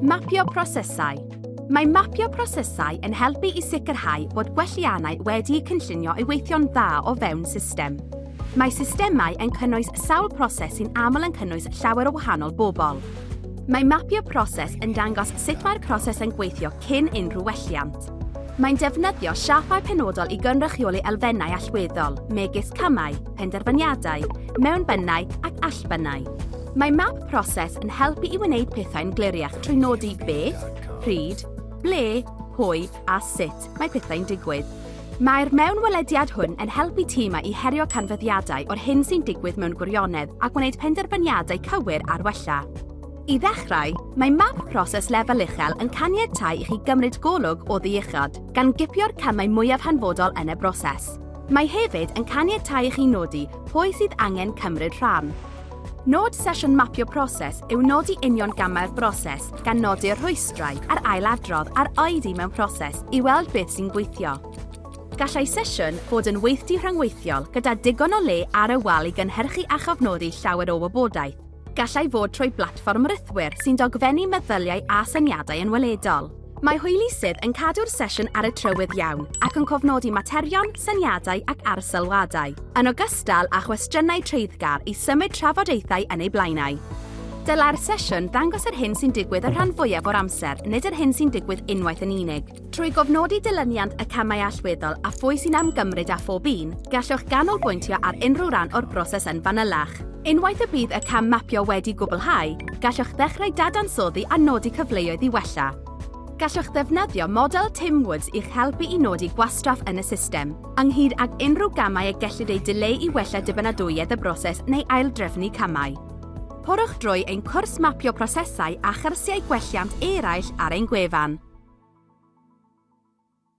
Mapio prosesau Mae mapio prosesau yn helpu i sicrhau bod gwelliannau wedi'u cynllunio i weithio'n dda o fewn system. Mae systemau yn cynnwys sawl proses sy'n aml yn cynnwys llawer o wahanol bobl. Mae mapio proses yn dangos sut mae'r proses yn gweithio cyn unrhyw welliant. Mae'n defnyddio siapau penodol i gynrychioli elfennau allweddol, megis camau, penderfyniadau, mewnbynnau ac allbynnau. Mae map proses yn helpu i wneud pethau'n gliriach trwy nodi beth, pryd, ble, pwy a sut mae pethau'n digwydd. Mae'r mewnwelediad hwn yn helpu tîmau i herio canfyddiadau o'r hyn sy'n digwydd mewn gwirionedd a gwneud penderfyniadau cywir ar wella. I ddechrau, mae map proses lefel uchel yn caniatáu i chi gymryd golwg o ddiuchod, gan gipio'r camau mwyaf hanfodol yn y broses. Mae hefyd yn caniatáu i chi nodi pwy sydd angen cymryd rhan, Nod sesiwn mapio proses yw nodi union gamau'r broses, gan nodi'r rhwystrau a'r ailadrodd a'r oedi mewn proses i weld beth sy'n gweithio. Gallai sesiwn fod yn weithdy rhyngweithiol gyda digon o le ar y wal i gynhyrchu a chofnodi llawer o wybodaeth. Gallai fod trwy blatfform rithwir sy'n dogfennu meddyliau a syniadau yn weledol. Mae hwylusydd yn cadw'r sesiwn ar y trywydd iawn ac yn cofnodi materion, syniadau ac arsylwadau, yn ogystal â chwestiynau treiddgar i symud trafodaethau yn eu blaenau. Dylai'r sesiwn ddangos yr hyn sy'n digwydd y rhan fwyaf o'r amser, nid yr hyn sy'n digwydd unwaith yn unig. Trwy gofnodi dilyniant y camau allweddol a phwy sy'n ymgymryd â phob un, gallwch ganolbwyntio ar unrhyw ran o'r broses yn fanylach. Unwaith y bydd y cam mapio wedi gwblhau, gallwch ddechrau dadansoddi a nodi cyfleoedd i wella. Gallwch ddefnyddio model Tim Woods i'ch helpu i nodi gwastraff yn y system, ynghyd ag unrhyw gamau y gellid eu dileu i wella dibynadwyedd y broses neu aildrefnu camau. Porwch drwy ein cwrs mapio prosesau a chyrsiau gwelliant eraill ar ein gwefan.